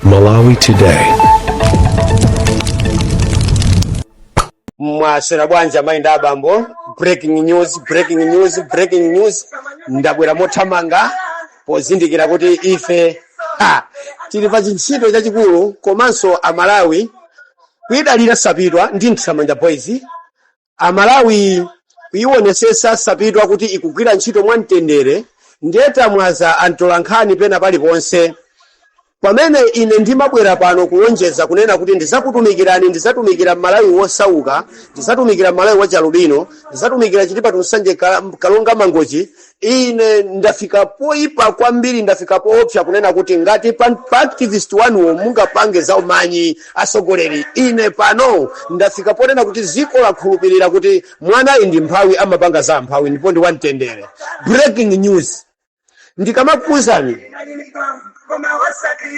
Malawi Today. mwaswera bwanji amayi ndi abambo breaking news breaking news breaking news ndabwera mothamanga pozindikira kuti ife ha, tili pa chintchito chachikulu komanso amalawi kuidalira sapitwa ndi Mtsamanda boys amalawi kuyiwonesesa sapitwa kuti ikugwira ntchito mwa mtendere ndiye tamwaza antolankhani pena paliponse pamene ine ndimabwera pano kulonjeza kunena kuti ndizakutumikirani ndizatumikira mmalawi wosauka ndizatumikira mmalawi wachialubino ndizatumikira chitipa to nsanje Ka- karonga mangochi Ine ndafika poyipa kwambiri, ndafika poopsa kunena kuti ngati pa, pa activist wanuwo mungapange za umanyi atsogoleri, ine pano ndafika ponena kuti dziko lakhulupirira kuti mwanayi ndi mphawi, amapanga za amphawi ndipo ndi wamtendere. Breaking news ndikamakuuzani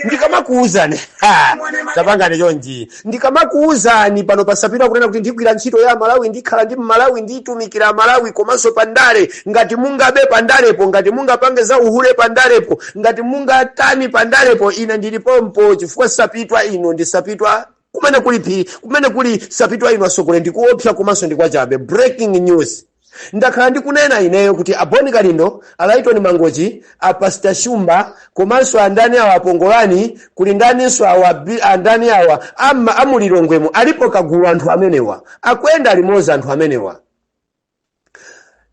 ndikamakuuzani ha, tapangani chonchi ndikamakuuzani pano pa sapitwa kunena kuti ndigwira ntchito ya amalawi ndikhala ndi mmalawi nditumikira malawi komanso pandale ngati mungabe pandalepo ngati mungapange za uhule pandalepo ngati mungatani pandalepo ine ndili pompo chifukwa sapitwa ino ndi sapitwa kumene kuli phiri kumene kuli sapitwa inu asogole ndi koopsa komanso ndi kwachabe breaking news ndakhala ndikunena ineyo kuti a boni kalindo a lyton mangochi a pastor shumba komanso andani awa a pongolani kuli ndaninso awa bi- andani awa ama a mu lilongwemo alipo kagulu anthu amenewa akuyenda limozi anthu amenewa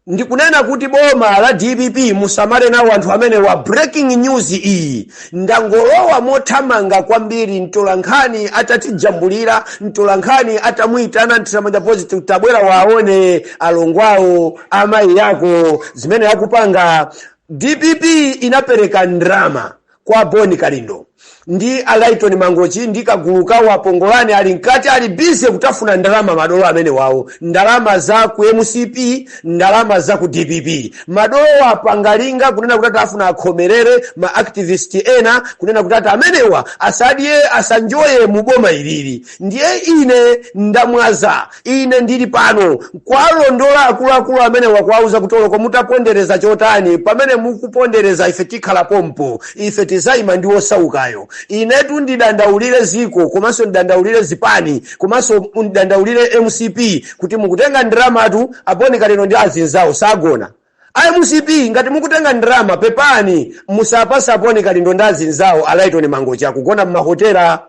ndikunena kuti boma la dpp musamale nawo anthu amenewa breaking news iyi ndangolowa mothamanga kwambiri mtolankhani atatijambulira mtolankhani atamuyitana Mtsamanda boys tabwera waone alongwawo amayi yako zimene akupanga dpp inapereka ndrama kwa Boni Kalindo ndi a Lyton Mangochi ndi kagulu kawo a Pongolani ali mkati ali busy kutafuna ndalama madolo amene wawo ndalama za ku mcp ndalama za ku dpp madolo apanga linga kunena kuti ati afuna akhomerere ma activist ena kunena kuti ati amenewa asadye asanjoye mu boma ilili ndiye ine ndamwaza Ine ndiri pano kuwalondola akuluakulu amenewa, kuwauza kuti oloko mutapondereza chotani, pamene mukupondereza, ife tikhala pompo, ife tizaima ndi wosaukayo. Inetu ndidandaulire ziko komanso ndidandaulire zipani komanso ndidandaulire mcp kuti mukutenga ndramatu a boni kalindo ndi azinzawo sagona a mcp ngati mukutenga ndrama pepani musapatsa a boni kalindo ndi azinzawo a lyton mangochi akugona mmahotela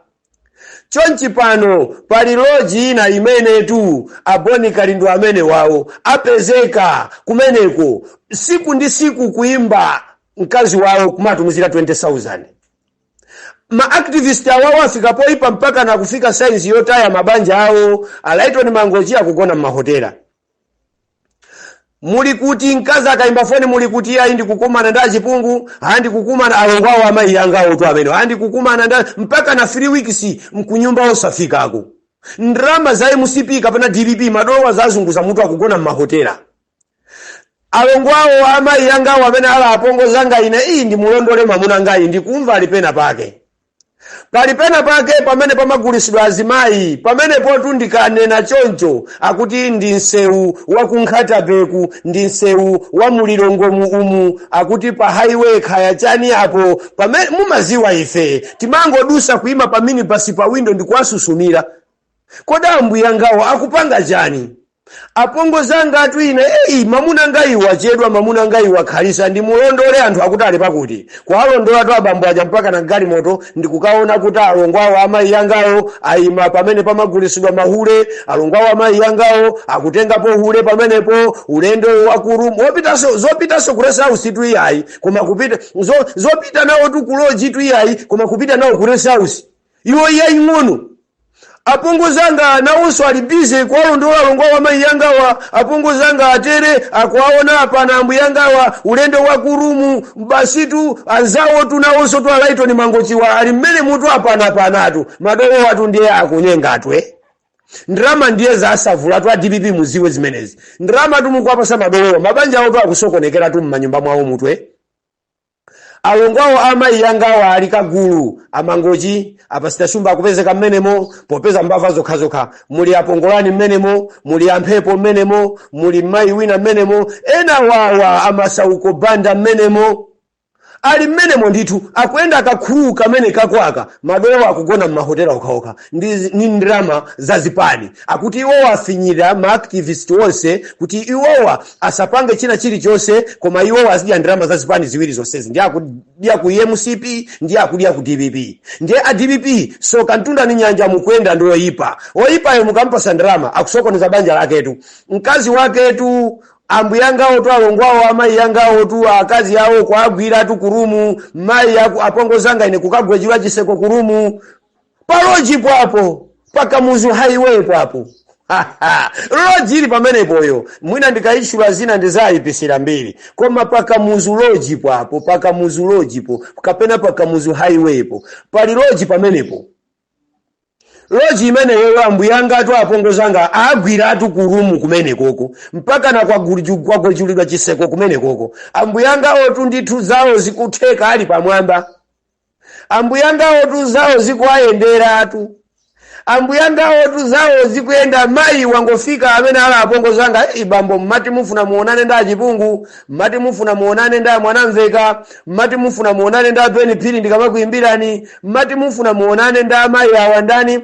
chonchi pano pali loji ina imenetu aboni kalindo amene wawo apezeka kumeneko siku ndi siku kuimba mkazi wawo kumatumizira 20000 maactivist awawo afika poipa mpaka nakufika saizi yotaya mabanja awo alaitoni mangochi akugona m'mahotela muli kuti mkazi akaimba foni muli kuti ayi ndikukumana ndi achipungu ayi ndikukumana alongo awo amayi anga awotu amene ayi ndikukumana ndi mpaka na 3 weeks mkunyumba osafikako ndrama za mcp kapena dpp madolowa zazunguza mutu akugona m'mahotela alongo awo amayi anga awo amene ali apongozanga ine iyi ndimulondole mamuna ngayi ndikumva ali pena pake pali pena pake pamene pamagulisidwa azimayi pamenepotu ndikanena choncho akuti ndi msewu wa ku nkhatabeku ndi msewu wa mulilongwemu umu akuti pa highway khaya chani apo pamene mumaziwa ife timangodusa kuima pa minibasi pa windo ndikuwasusumira kodi ambuyangawo akupanga chani Apongozi angatu ine eyi mamuna ngayi wachedwa mamuna ngayi wakhalisa ndimulondole anthu akuti ali pakuti kuwalondolatu abambo aja mpaka na galimoto ndikukaona kuti alongo awo amayi yangawo ayima pamene pamagulisidwa mahule alongo awo amayi yangawo akutengapo hule pamenepo ulendo wa ku room opitaso zopitaso ku rest house tu iyayi koma kupita zo, zopita nawo tu ku lodge tu iyayi koma kupita nawo ku rest house iwo yaying'ono apongozi anga nawonso ali bize kuwalondola alongo awo amayi yangawa apongozi anga atere akuwaona apa na ambuye yangawa ulendo wa kurumu basitu anzawo tu nawonso tu alaitoni mangochiwa ali mmenemutu apanapanatu madolowatu ndiye akunyengatu eh? ndrama ndiye zasavula tu adpp muziwe zimenezi ndramatu mukwapasa madolowa mabanja awo tu akusokonekera tu mmanyumba mwawomutu Alongo awo a amayi angawa ali kagulu amangochi apasita shumba akupezeka mmenemo popeza mbava zokhazokha muli apongolani mmenemo muli amphepo mmenemo muli mmayi wina mmenemo ena wawa amasauko banda mmenemo ali mmenemo ndithu akuyenda kagulu kamene kakwaka madolo akugona m'mahotela okhaokha ndi ndrama za zipani akuti iwowa afinyira maactivist onse kuti iwowa asapange china chilichonse koma iwo azidya ndrama za zipani ziwiri zonsezi ndi akudya ku mcp ndi akudya ku dpp ndiye a dpp soka mtunda ni nyanja mukuyenda ndi oyipa oyipayo mukampasa ndrama akusokoneza banja laketu mkazi waketu ambuyangawo tu alongwawo amayi yangawo tu akazi awo kuagwira tu kurumu mayi apongozanga ine kukagwejula chiseko kurumu pa loji pwapo pa kamuzu highway pwapo loji ili pamenepoyo mwina ndikayitchula zina ndizayipisira mbiri koma pa kamuzu loji pwapo pa kamuzu loji po kapena pa kamuzu highway po pali loji pamenepo loji imeneyo ambuyanga atu apongozanga agwiratu kurumu kumenekoko mpakana kwaguliju- kwagwejulidwa chiseko kumenekoko ambuyangawotu ndithu zawo zikutheka ali pamwamba ambuyangawotu zawo zikuwayenderatu ambuyangawotu zawo zikuyenda mayi wangofika amene ali apongo zanga "Ei, bambo mmati mufuna muonane ndi achipungu mmati mufuna muonane ndi amwanamveka mmati mufuna muonane ndi a Beni Phiri ndikamakuyimbirani mmati mufuna muonane ndi amayi awa ndani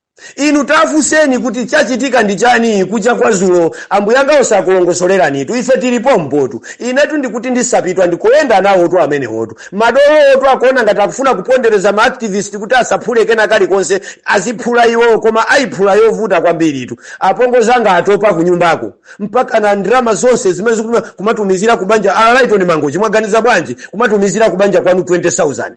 inu tafunseni kuti chachitika ndi chani kucha kwa zulo ambuyanga osakulongosoleranitu ife tilipo mbotu inetu ndikuti ndi sapitwa ndikuyenda nawotu amenewotu madolowotu akuona ngati akufuna kupondereza ma activist kuti asaphule kena kalikonse aziphula iwowo koma ayiphula yovuta kwambiritu apongo zanga atopa kunyumbako mpakana ndalama zonse zimene zikutuma kumatumizira kubanja a laitoni mangochi mwaganiza bwanji kumatumizira kubanja kwanu 20000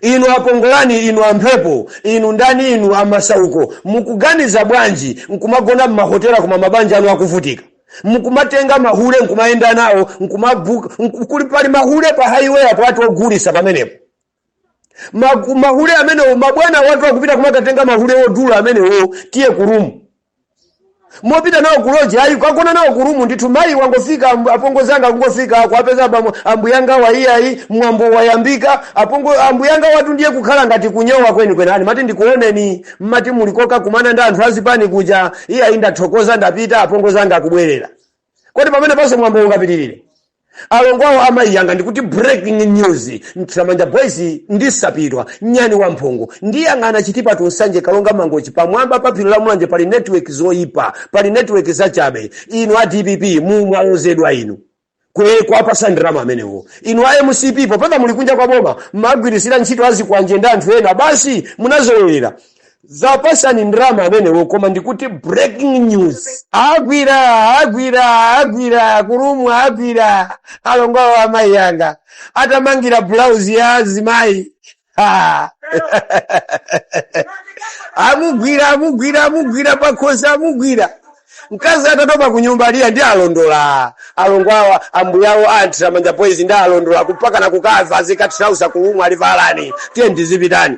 inu akongolani inu amphepo inu ndani inu amasauko mukuganiza bwanji nkumagona mmahotela koma mabanja anu akuvutika mkumatenga mahule nkumayenda nawo nkumaguka nku- kuli pali mahule pa highway apo atu ogulisa pamenepo Magu- mahule amenewo mabwana watu akupita kumakatenga mahule odula amenewo tiye kurumu mopita nawo kuloji ayi kwagona nawo kurumu ndithu mayi wangofika amb- apongo zanga akungofika kuwapeza abambo ambuyanga wa iyayi mwambo wayambika apongo ambuyanga watu ndiye kukhala ngati kunyowa kwenikweni ayi mati ndikuoneni mmati mulikoka kumana ndi anthu azipani kuja iyayi ndathokoza ndapita apongo zanga akubwerera kodi pamene panso mwambo ungapitirire alongo awo amayi anga ndikuti breaking news mthiramanja boys ndi sapitwa nyani wa mphongo ndiyang'ana chitipa tu nsanje karonga mangochi pamwamba pa phiri la mulanje pali network zoyipa pali network zachabe inu a dpp mumwalozedwa inu kwe kuwapasa ndalama amenewo inu a mcp popeza muli kunja kwa boma mmagwirisira ntchito azikwanje ndi anthu ena basi munazolowera ziwapasani ndalama amenewo koma ndikuti breaking news agwira agwira agwira kurumu agwira alongo awo amayi yanga atamangira bulauzi ya azimayi Ah. amugwira amugwira amugwira pakhosi amugwira mkazi atatopa kunyumba aliya ndi alondola alongo awo ambuyawo a mthiramanja boys ndi alondola mpakana kukava zikatirausa kurumu alivalani tiye ndizipitani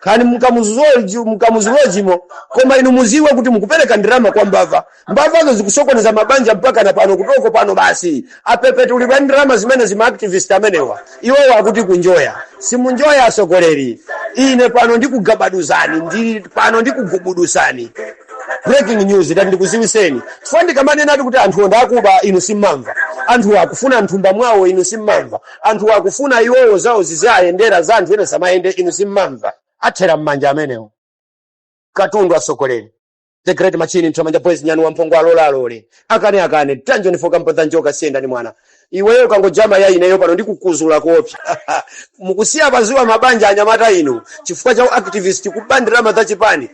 kani mkamuzu loji mkamuzu lojimo koma inu muziwe kuti mukupereka ndalama kwa mbava mbavazo zikusokoneza mabanja mpaka na pano kutoko pano basi apepetulidwa ndalama zimene za maactivist amenewa iwowo akuti kunjoya simunjoya asogoleri ine pano ndikugabaduzani ndi pano ndikugubudusani breaking news ndati ndikuziwiseni chifukwa ndikamanena ati kuti anthuwo ndi akuba inu simmamva anthu akufuna mthumba mwawo inu simmamva anthu akufuna iwowo zawo ziziwayendera za anthu ena samayende inu simmamva athera m'manja amenewo katundu atsogoleri the great machine mthamanja boys nyani wamphongo alola alole akane akane tanjoni foka mpodza njoka siyenda ni mwana iweyo kangojama ya ineyo pano ndikukuzula kopsa mukusiya paziwa mabanja anyamata inu chifukwa cha activist kuba ndalama za chipani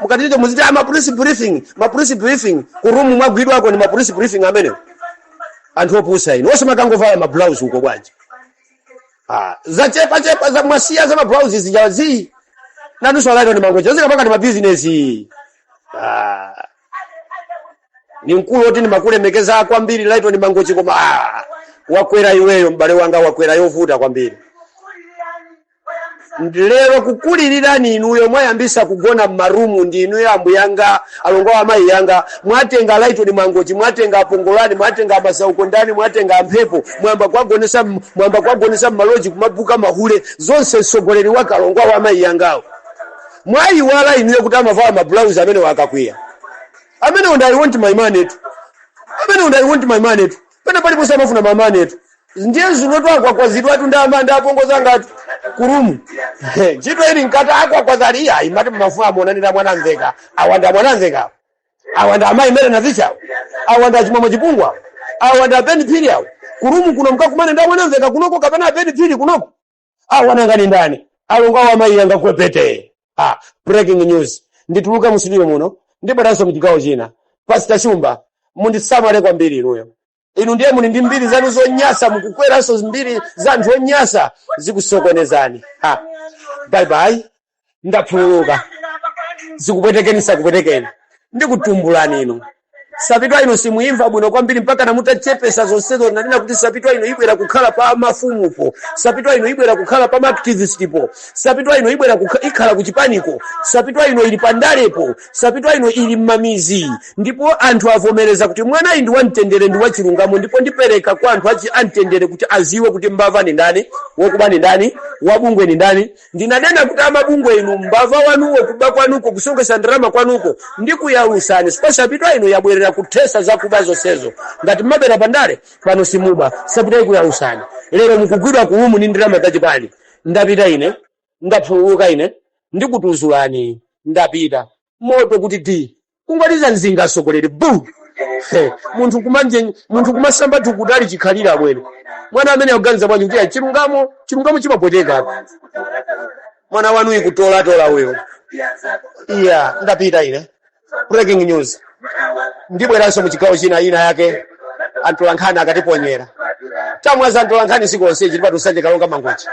mukatite muziti a mapress briefing mapress briefing kurumu mwagwidwako ni mapress briefing amenewo anthu opusa inu onse makangovala mabulauzi uko bwanji Ah, zachepachepa za mwasiya za mabulauzi zija zii nanunso alaitoni mangochi zikapanga ndi mabizinesi Ah, ni mkulu oti ndimakulemekeza kwambiri laitoni mangochi koma ah, wakwera iweyo m'bale wanga wakwera yovuta kwambiri lero kukulilirani inuyo mwayambisa kugona mmarumu ndi inuyo ambuyanga alongo awo amayi yanga mwatenga laitoni mangochi mwatenga apongolani mwatenga amasauko ndani mwatenga amphepo mwamba kwagonesa m- mwamba kwagonesa mmaloji kumabuka mahule zonse mtsogoleri wake alongo awo amayi yangawo mwayiwala inuyo kuti amavala mabulauzi amene wakakwiya amene unda I want my moneytu amene unda I want my moneytu pena paliponse amafuna my moneytu ndiye zinoto akwakwazidwatu ndi ama ndi apongozi angatu kurumu He, ntchito ili nkati akwakwazali iya imati mumafuna amuonanira mwanamvekha awa nda mwanamvekha awa nda amayi mary navichawo awa nda achimwemwe chipungu awa nda abeni phiri awo kurumu kuno mkakumane ndi amwanamvekha kunoko kapena abeni phiri kunoko awa nanga ni ndani alongo awo amayi anga kwepete ah, breaking news ndituluka mu studio muno ndibweranso mchigawo china pasita shumba mundisamale kwambiri inuyo inu ndiye muli ndi mbiri zanu zonyasa mukukweranso mbiri za anthu onyasa zikusokonezani ha bye bye ndakhululuka zikupwetekeni sakupwetekeni ndikutumbulani inu sapitwa ino simuyimva bwino kwambiri mpaka namutachepesa zonsezo nanena kuti sapitwa ino ibwera kukhala pa mafumupo sapitwa ino ibwera kukhala pa maaktivistipo sapitwa ino ibwera kukha- ikhala kuchipaniko sapitwa ino ili pandalepo sapitwa ino ili mmamizi ndipo anthu avomereza kuti mwanayu ndi wamtendere ndi wachilungamo ndipo ndipereka kwa anthu achi amtendere kuti aziwe kuti mbava ni ndani wokuba ni ndani wabungwe ni ndani ndinanena kuti amabungwe inu mbava wanuwo kuba kwanuko kusonkhesa ndalama kwanuko ndikuyalusani si pa Sapitwa ino yabwerera kuthesa zakuba zonsezo ngati mmabera pandale pano simuba Sapitwa ikuyalusani lero mukugwidwa ku lumu ndi ndalama zachipani ndapita ine ndapuluka ine ndikutuzulani ndapita moto kuti di kungoliza mzinga atsogoleri bu He, munthu kumasamba tukutali chikhalira amwene mwana amene akuganiza bwanji kuti chilungamo chimapweteka mwana wanu ikutolatola uyo iya ndapita ine breaking news ndibweranso mu chigawo chinachake antolankhani akatiponyera tamwaza atolankhani sikonse chilipatu Nsanje Karonga Mangochi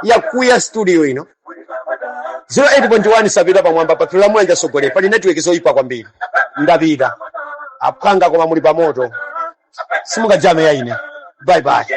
yakuya studio ino 08.1 Sapitwa pamwamba paphiri la Mulanje asogoleri pali netiweki zoyipa kwambiri ndapita aphwanga koma muli pamoto simungajameya ine bye bye